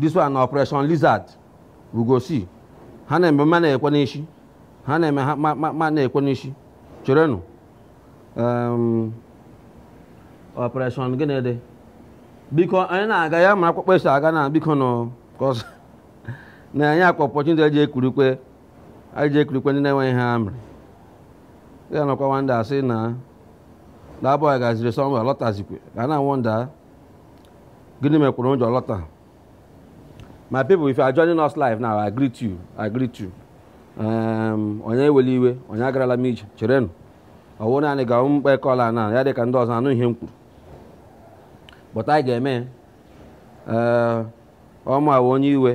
this one na operation lizard we go see ha na-eme ma na-ekwe n'isi ha na-eme ha ma- ma ma na-ekwe n'isi cherenụ Em, operation gịnị dị biko anyị na-aga ya ma akpụkpọ esi aga na biko nọ kọs na anyị akwa opportunity eji ekurikwe anyị ji ekurikwe ndị na-enweghị ihe ha mere ya nọkwa nwanda asị na dabọ ya gaziri sọmba lọtazikwe ga na wonder gịnị mekwuru o ji lọta my people if you are joining us live now i greet you i greet you um, onye ewele iwe onye agarala m ije cherenụ ọwụ naanị ga mkpa ekọla na ya dị ka ndị ọzọ anụ ihe m kwuru but anyị ga-eme eh, ọ mụa wụ onye iwe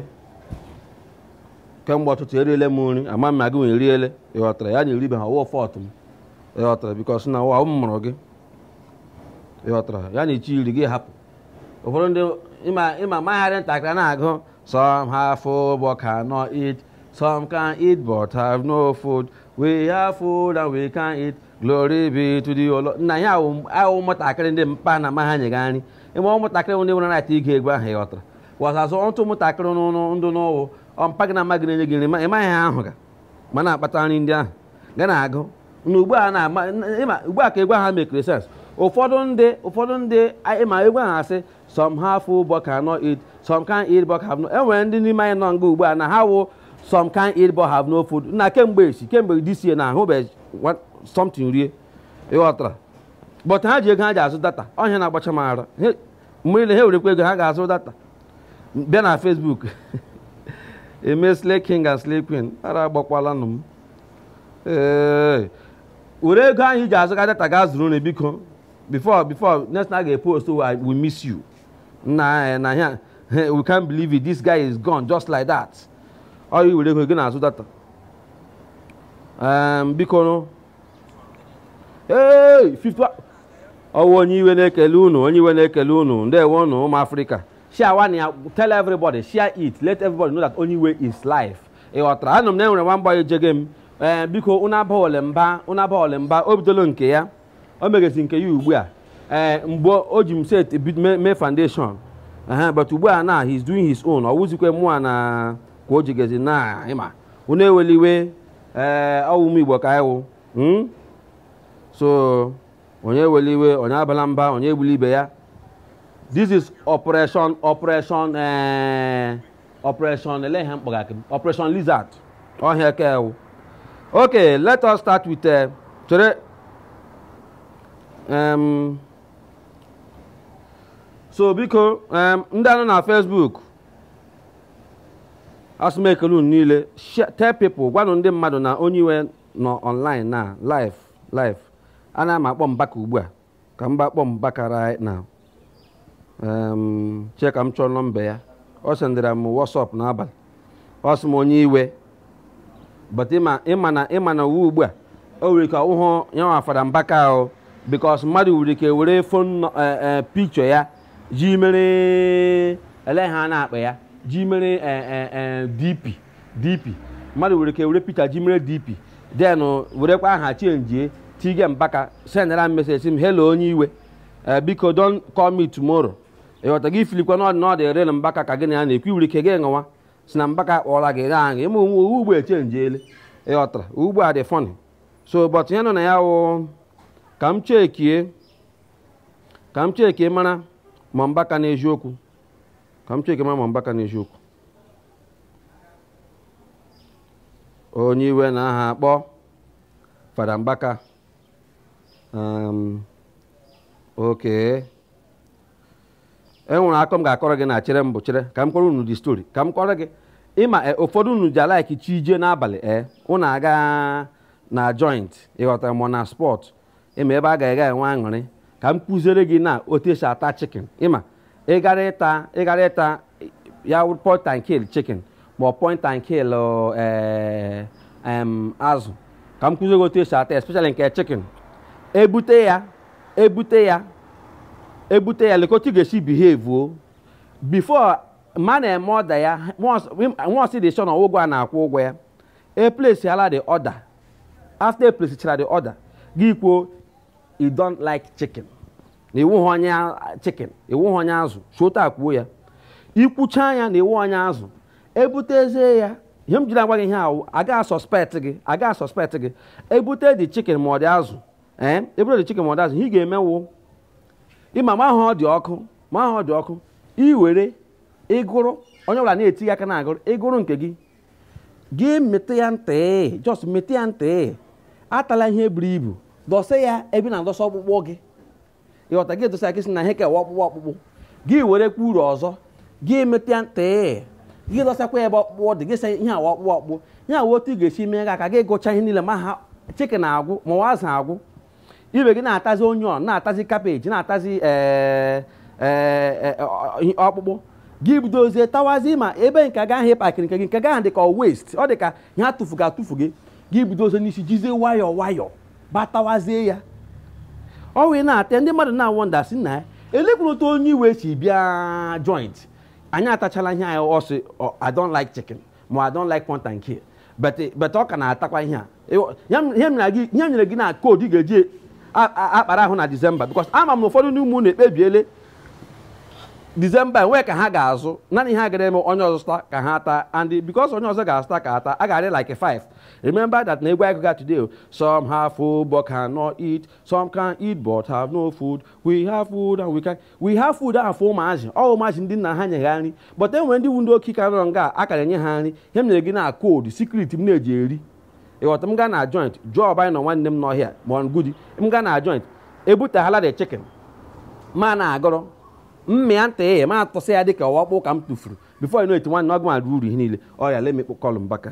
kemgbe ọtụtụ eriele m nri ama m ma gị nwa eriele ịghọtara ya na eribeghị ọwụ fault m ịghọtara because na ọwụ m mụrụ gị ịghọtara ya na ịchọghị iri gị hapụ ụfọdụ ndị ịma mgbe a dị ntakịrị na-agụ some have food but cannot eat some can eat but have no food we have food and we can eat glory be to thee o Lord nna ya ahụ ụmụntakịrị ndị mpa na mma ha nyega nri ịma ụmụntakịrị ndị nwere na-ata ige egwu ahụ ịghọtara wasasụ ọtụ ụmụntakịrị ndụ n'ụwụ ọ mpa gị na mma gị na-enye gị nri ị maghị ha ahụ ga ma na-akpata nri ndị ahụ ga na-agụ na ugbu a na-ama ịma ugbu a ka egwu ahụ makeiri sense ụfọdụ ndị ụfọdụ ndị a- ịma egwu ahụ asị some have food but cannot eat some can eat but have no enwere ndị n'ime anyị nọ nga ugbu a na ha wụ some can eat but have no food na kemgbe esi kemgbe this year na ahụbeghị one- something rie ịghọtara but ha ji ego ha ji azụ data ọ ihe na-agbacha m ara He- mgbe niile ha werekwa ego ha ga-azụ data bịa na Facebook eme slay king and slay queen ara agbakwalanụ m ee were ego ahụ iji azụga data ga zụrụ nri biko before before next na ga-epost we miss you na na ya we can't believe it this guy is gone just like that oya were ego gị na-azụ data biko ee ọwụ onye iwe na-ekele unu onye iwe na-ekele unu ndewo unu ụmụ afrịka sharewanụ ya tell everybody share it let everybody know that onye iwe is live ịghọtara anụ m na enwere nwa mgba ejege m ee eh, biko unu abale ya mba unu abale ya mba o bidolo nke ya o megezi nke ya ugbu a ee eh, mgbe o ji m set mee foundation eh, but ugbu a na he's doing his own ọ wụzikwe mụa na ka o jigezi na ịma unu ewele iwe ee ọ ụmụ igbo ka anyị wụ hmm? so onye ewela iwe onye abala mba onye egbula ibe ya this is operation operation eh, operation ele ihe mkpọga akị operation lizard ọhịa eke ewu okay let us start with eh, chere um, so biko um, ndị a nọ na Facebook a sị m kelee unu niile share- tell people gwanụ ndị mmadụ na onye iwe nọ online na live live ana m akpọ mbaka ugbu a ka mba akpọ mbaka right now Em, chee ka m chọọ nọmba ya ọ sendịra m WhatsApp n'abalị ọ sị m onye iwe but ịma ịma na ịma na ụwa ugbu a o nwere ike ọwụhụ ya nwa fada mbaka ahụ because mmadụ nwere ike were phone picture ya ji mere ele ihe a na-akpọ ya ji mere eh, eh, eh, dp dp mmadụ nwere ike were picture ji mere dp then werekwa aha chenjie tige mbaka sendara m message sị m hello onye iwe ee biko don call me tomorrow ịghọta gị ifilikwa na ọ the na ọ the real mbaka ka gị na ya na-ekwu i nwere ike gị ṅụwa sị na mbaka kpọọla gị gaa aṅụ ịma na ụwa ugbu a echenjiele ịghọtara ugbu a dị funny so but ihe nọ na ya wụ ka m chekie ka m chekie mara ma mbaka n'eziokwu ka m chekie mara ma mbaka n'eziokwu onye iwe na aha akpọ fada mbaka um, okay e nwere akọ m ga-akọrọ gị na chere mbụ chere ka m kọrọ unu the story ka m kọrọ gị ịma e, ụfọdụ unu ji alaiki chi jie n'abalị e unu aga na joint ịghọtara ma ọ na spot ịma ebe a ga-aga enwe aṅụrị ka m kụziere gị na otu esi ata chicken ịma ịgara ịta ịgara ịta ya point and kill chicken ma ọ point and kill eh, azụ ka m kụziere gị otu esi ata especially nke chikin ebute ya ebute ya ebute ya lekwa otu ị ga-esi behave o before ma na-eme order ya nwa ọsị dị sure na ụgwọ a na-akwụ ụgwọ ya e place ala the order after e plesichara the order gị kwuo you don't like chicken na ị wụhụ onye a- chicken ị wụhụ onye azụ shota kwuo ya i kwuchaa ya na ị wụhụ onye azụ ebutezie ya ihe m jiri agwa gị ihe ahụ agaghị suspect gị agaghị suspect gị ebute the chicken ma ọ the azụ ee ebute the chicken ma ọ the azụ ihe ị ga-eme wụ ịma ma ahụ ọ dị ọkụ ma ahụ ọ dị ọkụ i were ịgụrụ onye ọbụla na-etige aka na-agụrụ ịgụrụ nke gị gị mete ya ntị just mete ya ntị atala ihe buru ibu dọsa ya ebe ị na-adọsa ọkpụkpụ gị ị ghọta gị dọsa gị sị na ihe ka wụ ọkpụkpụ ọkpụkpụ gị were kwa uru ọzọ gị mete ya ntị gị dọsakwa ebe ọkpụkpụ dị gị sị ihe a wụ ọkpụkpụ ọkpụkpụ ihe a wụ otu ị ga-esi mee gị aka gị gụcha ihe niile ma ha chicken agwụ ma ọ wụ azụ agwụ ibe gị na-atazi onion na-atazi kabeji na-atazi eh, eh, eh, ọkpụkpụ gị bidozie tawazi ma ebe nke gị ahụ ị pakịrị nke gị nke gị ahụ dị ka waste ọ dị ka ihe a tụfuga atụfu gị gị bidozie n'isi jizie nwayọọ nwayọọ bịa tawazie ya ọ wee na-ata ndị mmadụ na-wonder sị nna elekwuru otu onye iwe si bịa joint anyị atachala ihe anyị ọ sị I don't like chicken ma I don't like no thank you but but ọ ka na-atakwa ihe a Ịghọ- ya m- ihe m na gị- ihe m nyere gị na code ị ga-eji a- a- akpara ahụ na December because ama m na ụfọdụ n'ime unu ekpebiele December enwe ka ha ga-azụ naanị ihe ha gara eme onye ọzọ zụta ka ha taa and because onye ọzọ ga-azụta ka ha taa a ga-adị like 5 remember that na egwu anyị gụga today o, some have food but cannot eat some can eat but have no food we have food and we can we have food ahụ wụ ụmụazị ọ wụ ụmụazị ndị nna ha nye ha nri but enwere ndị wụ ndị oke ka nọrọ nga a kara enye ha nri ihe m nyere gị na code secret m na-eji eri ị ghọta m gaa na joint jụọ ọba anyị nọ nwanne m n'ọhịa ma ọ ngudi m gaa na joint e butahala the chicken ma na-agọrọ m mịa ntị ya m atụsa ya dịka ọ wụ ọkpụ ka m tụfuru before you know it nwanne ọgụ ma ruo uru ihe niile oya let me call Mbaka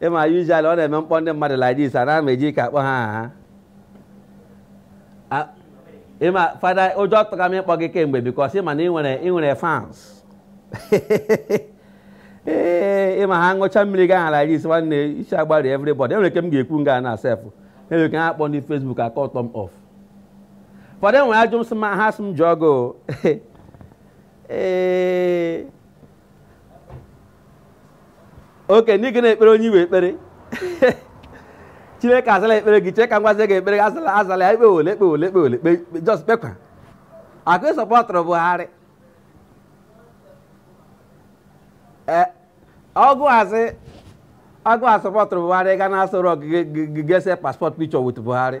ịma usually ọ na-eme m kpọọ ndị mmadụ like this a na-ama eji ka akpọ ha aha A- ịma fada ụjọ tụga m ịkpọ gị kemgbe because ịma na ị nwere ị nwere fans ee ịma ha ṅụcha mmiri gị ahụ like this nwanne isi agbari everybody enwere ike m ga-ekwu nga na sef enwere ike ha akpọ ndị facebook a cut m off fada enwere ajụjụ m sị ma ha sị m jụọ gị o. ee okay ndị gị na-ekpere onye iwe ekpere chineke azala ekpere gị chere ka m gwazie gị ekpere azala azala ya ekpe ole ekpe ole ekpe ole just kpekwa akụ ị sọpọtụrụ buhari e, ọgụ azị agụ asọpọtụrụ buhari ga na-asọrọ gị ga see passport picture with buhari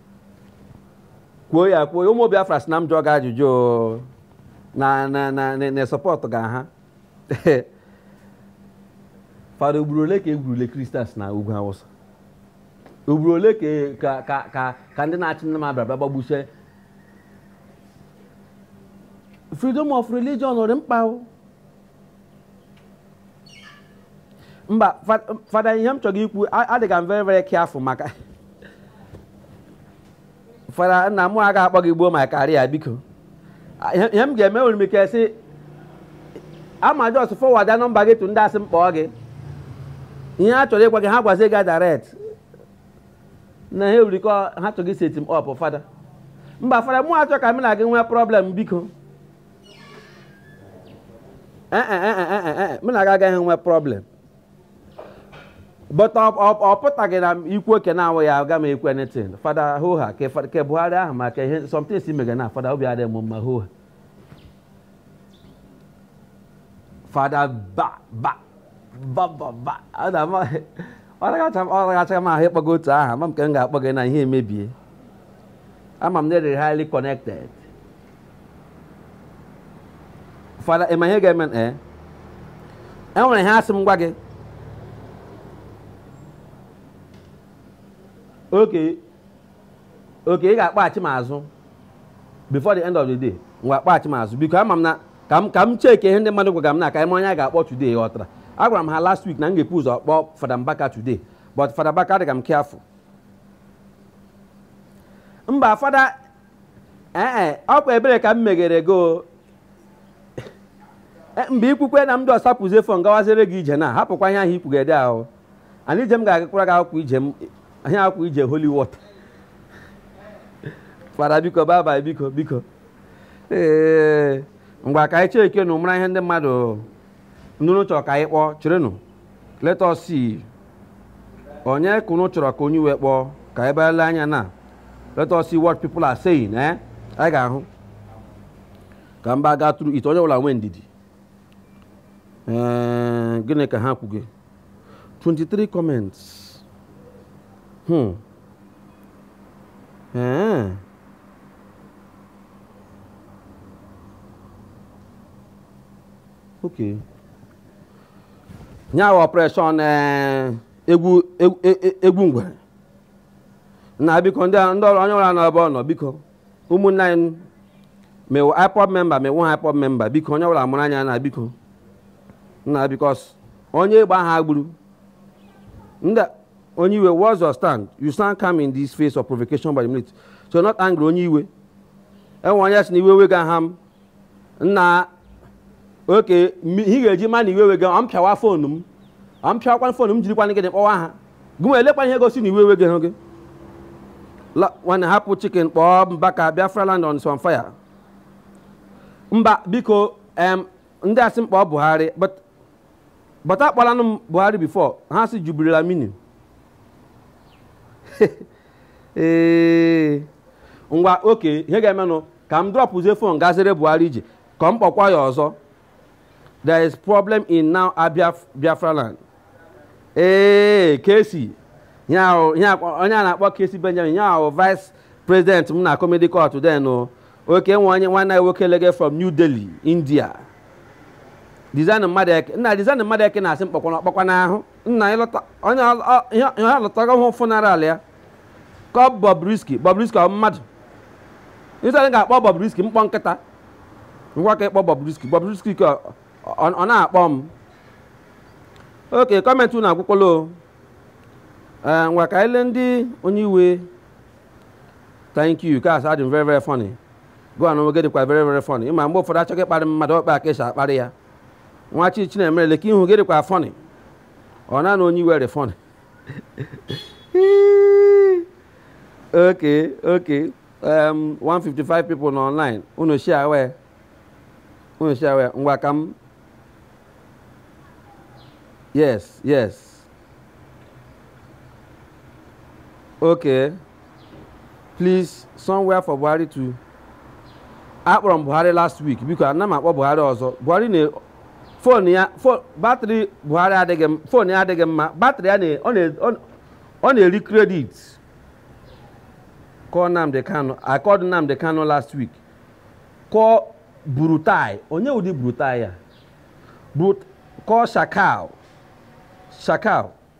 kwuo ya kwuo ya ụmụ Biafra sị na m jụọ gị ajụjụ o. na na na na- na sọpọtụga ha fada ugboro ole ka e gburule Christians na ugwu awụsa ugboro ole ka e- ka ka ka ka ndị na-achị nama bịara bịa gbagbusie freedom of religion ọ dị mkpa o mba fada ihe m chọrọ ikwu adịga m very very careful maka fada na m ga-akpọ gị gbuo m career biko ihe m ga-eme nwere m ike sị ama just forwarda nọmba gị to ndị sị m kpọọ gị ihe ha chọrọ ịgwa gị ha gwazie gị direct na ha erikọ ha chọrọ iset m up fada mba fada mụ achọ ka m na gị nwee problem biko eh, eh, eh, mụ na gị agaghị enwe problem but ọ pụtaghị na ikwu oke na-awụ ya aga m ekwe nothing fada hoha ke buhari ahụ maka ihe some things mega na fada obi adịghị m mma hoha fada ba ba ba ba ba ọ ragachaghị m ahụ ịkpọgo otu aha ma m ka m ga-akpọ gị na ihe emebie ama m na ị dị highly connected fada ịma ihe ga-eme ee eh? e nwere ihe a sị m gwa gị okay okay ị ga-akpọghachi m azụ before the end of the day ngwa kpọghachi m azụ biko ama m na ka m ka m cheke ihe ndị mmadụ gwara m na comment onye a ga-akpọ today ị ghọtara agwara m ha last week na m ga-ebu ụzọ kpọọ fada mbaka today but fada mbaka adịga m careful mba fada ee ọ kwa ebere ka m megere gị o E, mgbe ị kwukwe na m dọsapụzie phone gawazere gị ije na hapụkwa ihe ahụ ị kwugede ahụ and ije m ga-agakwara gị akwụkwọ ije m ihe awụkwa ije holy water fada biko baba biko biko ee ngwa ka anyị chekeenụ mara ihe ndị mmadụ ndị unu chọrọ ka anyị kpọọ cherenụ let us see onye ka unu chọrọ ka onye iwe kpọọ ka anyị bịa lee anya na let us see what people are saying eh anyị ga-ahụ ka mba gaa tụrụ ite onye ọbụla nwee ndidi ee eh, gịnị ka ha kwuge 23 comments hmm. ee eh. Okay. nya bụ ọpreshọn eh, egwu egwu- e- egwu ngwere na biko ndị a- ndị ọrụ- onye ọbụla n'ebe ọ nọ biko ụmụnne anyị ma ị wụ ipob member ma ị wụha ipob member biko onye ọbụla mụrụ anya na biko na because onye egbe aha gburu ndị onye iwe what's your stand you stand calm in this face of provocation by the military so not angry onye iwe e nwe onye sị na iwe ewegaha m nna okay m- ihe ị ga-eji ma na iwe wege ọ m pịawa foonu m ọ m pịawakwa foonu m jirikwana gị dị kpọwa ha gị wee lekwa ihe gosi na iwe wege hụ gị La- nwanne hapụ chicken kpọọ mbaka biafra land is on fire mba biko em ndị a sị m kpọọ buhari but but akpọlanụ m buhari before ha sị jubril aminu ee ngwa okay ihe ga-emenụ ka m drọpụzie fon gazere buhari ji ka m kpọkwa ya ọzọ there is problem in our biafra land ee kesi ihe ahụ ihe akpọ- onye a na-akpọ kesi benjamin ihe ahụ vice president m na comedy court den o okay nwa onye nwanne ya nwoke lege from new delhi india diezani madueke nna diezani madueke na-asị m kpọkwana ọkpọkwa n'ahụ nna ị lọta onye ọ- ọ- ihe ihe ọ lọtago hụ funeral ya kpọọ bobrisky bobrisky ọ mmadụ ị sị anyị ga-akpọ bobrisky m kpọọ nkịta ngwa ka ị kpọọ bobrisky bobrisky ka ọ- ọ na-akpọ m okay comment unu agwụkwala o ee ngwa ka ele ndị onye iwe thank you ka asa dị m very very funny go on nwoke dịkwa very very funny ị ma mgbe ụfọdụ achọghị ịkparị mmadụ ọkpa ka e si akparị ya nwa chi chinemere leke ihu gị dịkwa funny ọ na na onye iwe dị funny okay okay um, 155 people nọ online unu share wee unu share wee ngwa ka m yes yes okay please somewhere for Buhari to akpọrọ m Buhari last week biko ana m akpọ Buhari ọzọ Buhari na fon ya batrị buhari adịghị fon ya adịghị mma batrị ya ọ na-eri kredit kpọọ Nnamdi Kanu akpọdụ Nnamdi Kanu last week kpọọ buratai onye wụdị buratai a kpọọ shekau shekau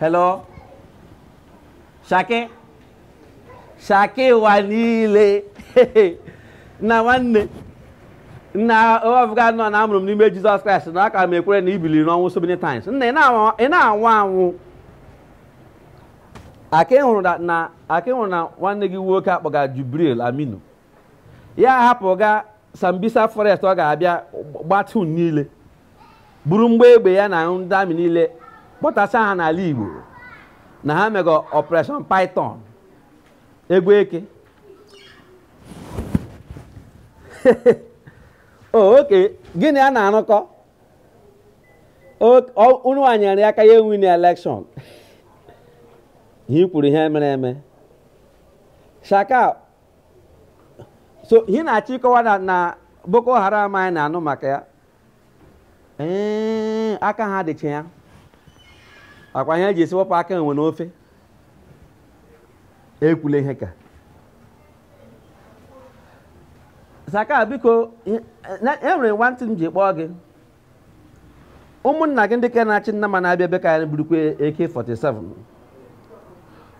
hello shaki shaki ụwa niile na nwanne nna ọ bụghanụ na a mụrụ m n'ime jizọs kraịst na aka m ekwere na i biliri n'ọnwụ so many times nna ị na-anwụ anwụ aka ị hụrụ na nwanne gị nwoke akpọga jubril aminu ya hapụ ga sambisa forest ọ ga-abịa gbatun niile buru mgbọ egbe ya na ndị amị niile kpọtasa ha n'ala igbo na ha mega operation python egwu eke Oh, okay gị na ya na-arụkọ ọrụ wee nyere ya aka ya winie elekshọn ihe kwuru ihe mere eme shaka so ihe na-achọ ịkọwa na na boko haram anyị na-anụ maka ya ee aka ha dịcha ya ọ kwa ihe e ji asị wepụ aka enwe n'ofe ekwula ihe ka Shekau biko e nwere nwantị m ji kpọọ gị ụmụnna gị ndị ka na-achị nnama na-abịa ebe nke anyị burukwa AK47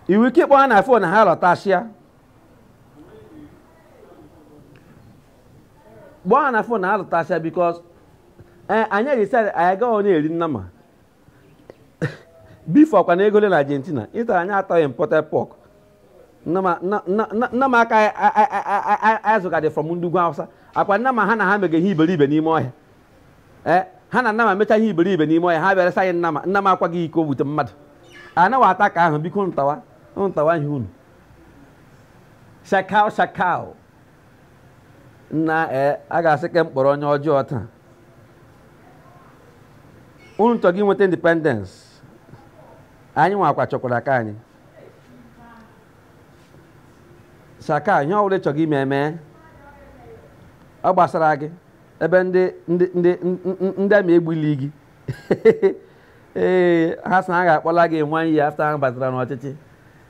i nwe ike ịkpọ ha na fon ha lọtachịa kpọọ ha na fon ha lọtasịa because ee anyị ejesara anyị agaghị onye eri nnama before kwa na ego ole na argentina ịtara anyị atọghị imported pork nnama nna- nna- nna- nnama aka anyị- anyị- anyị- anyị- anyị zụgadị from ndị ugwu hausa ọ kwa nnama ha na ha mega ihe iberibe n'ime ọhịa ee ha na nnama mecha ihe iberibe n'ime ọhịa ha bịara saghị nnama nnama akwaghị iko wute mmadụ anaghị ata nke ahụ biko tawa tawa ihe unu Shekau Shekau nna ee a ga-asị ka m kpọrọ onye ọjọọ taa unu chọga inweta independence anyị nwa kwa chọkwara nke anyị Shekau ihe ọbụla ị chọga ime eme ọ gbasara gị ebe ndị ndị ndị ndị army egbuli gị ee ha sị na ha ga-akpọla gị one year after ha batara n'ọchịchị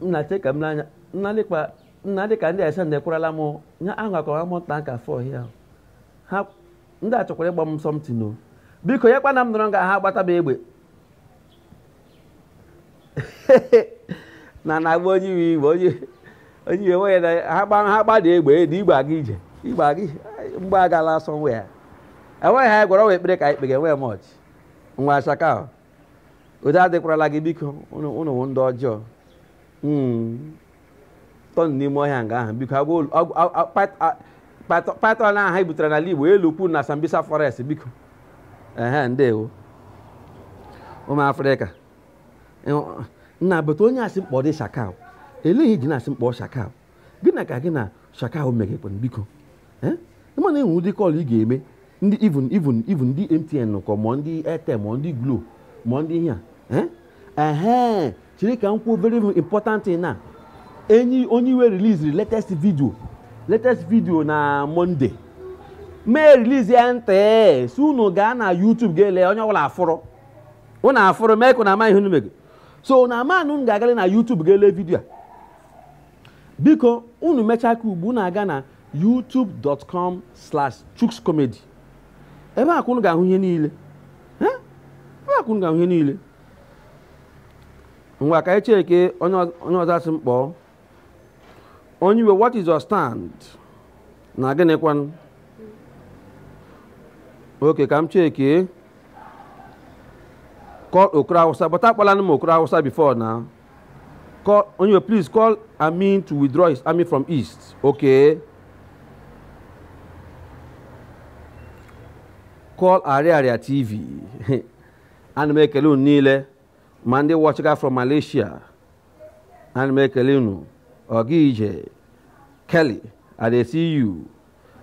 nnache ka m n'anya nna dịka ndị ese na-ekwerala m ya ahụ akọwa m nta nka fọ ya ha ndị a chọkwara ịgba m something o biko ya kwana m nọrọ nga ha gbata m egbe na na-agba onye iwe iwe onye onye iwe nwunye na ha gba ha gbada egbe na igbe aga ije igbe aga ije mgbe agala asọ nwe ya enweghị ha gwara nwa ekpere ka anyị kpega enweghị m ọchị nwa Shekau udo adịkwarala gị biko unu unu wụ ndị ọjọọ Mm. tọnụ n'ime ọhịa nga ahụ biko agwa olu- agwa- a- a- pat- a- pat- python ahụ anyị butere n'ala igbo ya elukwa na sambisa forest biko ehe ndewo ụmụ afrịka Ịhụ- nna bụta onye a sị m kpọọdị Shekau elee ihe i ji na-asị m kpọọ Shekau gịnị ka gị na Shekau megakwanụ biko eh? ị ma na e nwe ụdị call ị ga-eme ndị even even even ndị MTN kọ ma ndị Airtel ma ndị Glo ma ndị ihe a eh? ehe chere ka m kwuo very important na enyi onye iwe release latest video latest video na Monday mee release ya ntị si unu gaa na YouTube gaa lee onye ọbụla afụrụ unu afụrụ mee ka na ama ihe unu mego so na amanụ m ga-agara na YouTube ga-ele video a biko unu mechaa ka ugbu unu aga na youtube.com slash chuks comedy ebe a ka unu ga-ahụ ihe niile Eh? ebe a ka unu ga-ahụ ihe niile ngwa ka anyị cheke onye ọz- onye ọzọ asị m kpọọ onye iwe what is your stand na gịnịkwanụ okay ka m cheke call okoro awụsa but akpọlanụ m okoro awụsa before na call onye please call amin to withdraw his army from east okay call ariaria tv ana m ekele unu niile ma ndị watchga from malaysia ana m ekele unu ọga ije kelly i dey see you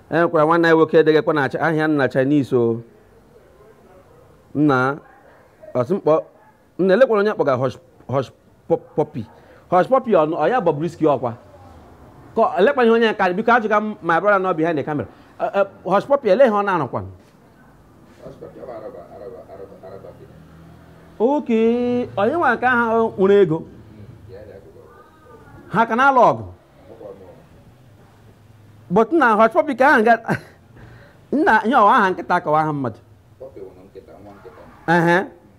enwekwara nwanne anyị nwoke degekwa na ahịa nna chinese o nna ọ sị m kpọ nna elekwara onye kpọga Hush Puppy Hush Puppy ọ ya Bobrisky ọkwa ka elekwa ihe onye karị biko ajụga m my brother nọ behind the camera Hush Puppy ele ihe ọ na-arụkwa okay onye nwa nke ha nwere ego ha ka na-alụ ọgụ but na Hush Puppy ka ahụ nna ihe ọ wụ aha nkịta ka ọ wụ aha mmadụ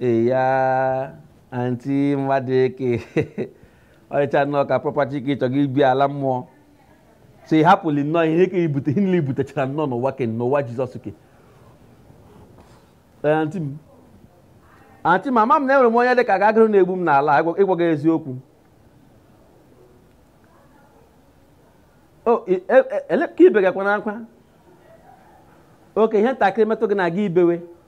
eya anti mmadụ eke ọrịcha nnọọ ka property ka ị chọga ibi ala mmụọ so ị hapụli nnọọ ihe ka ibute ihe niile i butechara nnọọ n'ụwa ke n'ụwa jizọs ke Ee, anti m anti m ama m na enwere m onye dị ka agagịrị na-egbu m n'ala ịgwa- ịgwa gị eziokwu o i- e- e- ele ka i begakwa n'akwa okay ihe ntakịrị metụ gị n'aka i bewe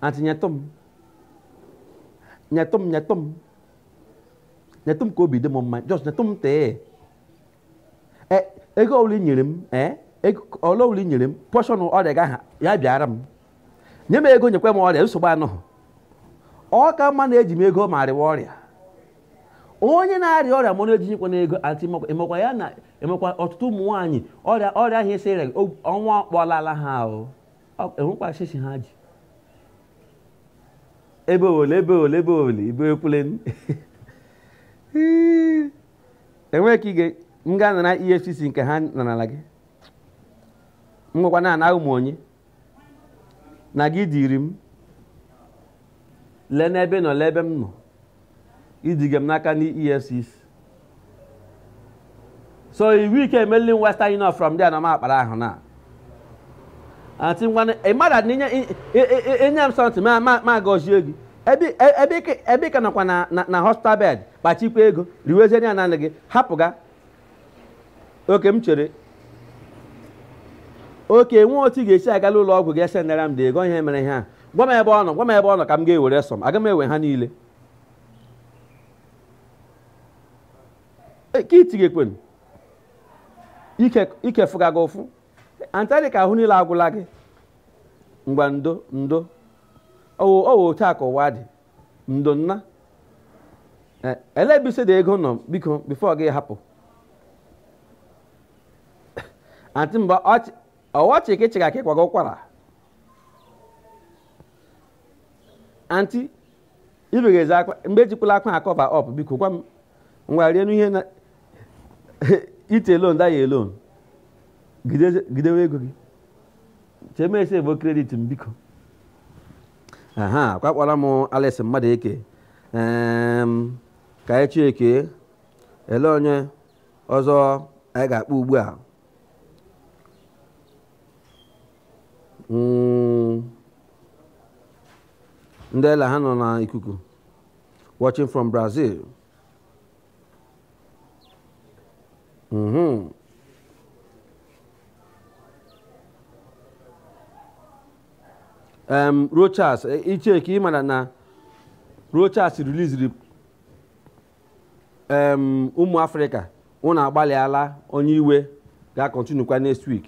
Anti nyetụ m nyetụ m nyetụ m nyetụ m ka obi dị m mma just nyetụ m tee e, ego ole nyere m ee ole ole nyere m pọshọn ọrịa gị aha ya bịara m nye m ego nyekwa m ọrịa nsogbu anọghị ọ ka mma na eji m ego ma arịwa ọrịa onye na-arịa ọrịa mana eji nyekwa n'ego anti emekwa ya na emekwa ọtụtụ ụmụ nwaanyị ọrịa ọrịa ahụ esi ọnwa kpọlala ha ahụ enwekwa shishi ha ji ebe ole ebe ole ebe ole ibe ekwule enweghị ka ige m ga nara efcc nke ha narala gị m gwakwa na awụ m onye na gị diri m lee n'ebe nọ lee ebe m nọ iduga m n'aka ndị EFCC so i nwee ike emeli Western Union from there na m akpara ahụ na aunty ngwana ịmara na inye inye m something ma ma ma gọzie gị ebe ebe ị ka- ebe ị ka nọkwa na na- na hospital bed kpachikwa ego riwezie ya naanị gị hapụ ga okay m chere o nwe otu ị ga-esi agala ụlọ ọgwụ ga sendara m the ego ihe mere ha gwa m ebe ọ nọ gwa m ebe ọ nọ ka m ga-ewere some aga m ewe ha niile E, ka itighekwen ike fụga gị ụfụ aunty ọ dị ka ahụ niile agwụla gị ngwa ndo ndo owo owo otu a ka ụwa dị ndo nna eh, ele ebe ị sị the ego nọ biko before gị hapụ aunty ọ wụ ọchị ka ị chịga ka ị kwaga ụkwara aunty i bega ezi akwa bee ejikwala ụkwara cover up biko gwa m ngwa rie n'ihe na eat alone die alone gị dewe ego gị chee m save credit m biko aha kwa kpọrọ m Alex Madueke em, ka anyị checkie ele onye ọzọ anyị ga-akpọ ugbu a Mm, ndị ele anya nọ n'ikuku watching from Brazil Mhm. um, Rochas eh, iche ka ị mara na Rochas releaseri um, ụmụ Afrịka ụnụ agbalịala onye iwe ga-acontinuekwa next week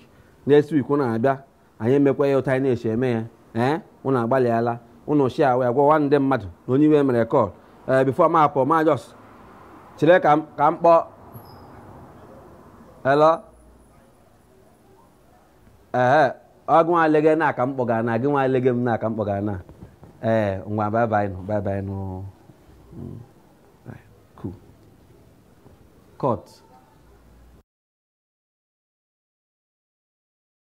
next week ụnụ abịa anyị emekwa ya otu anyị na-esi eme ya ee ụnụ agbalịala ụnụ sharewa ya gwawa ndị mmadụ na onye iwe mere call ee before m apụ m just chere ka m ka m kpọọ hello ee ọ gị nwa lege na aka m kpọgara na gị nwa lege m na aka m kpọgara na ee ngwa bye bye nụ bye bye nụ Mm. Right, cool cut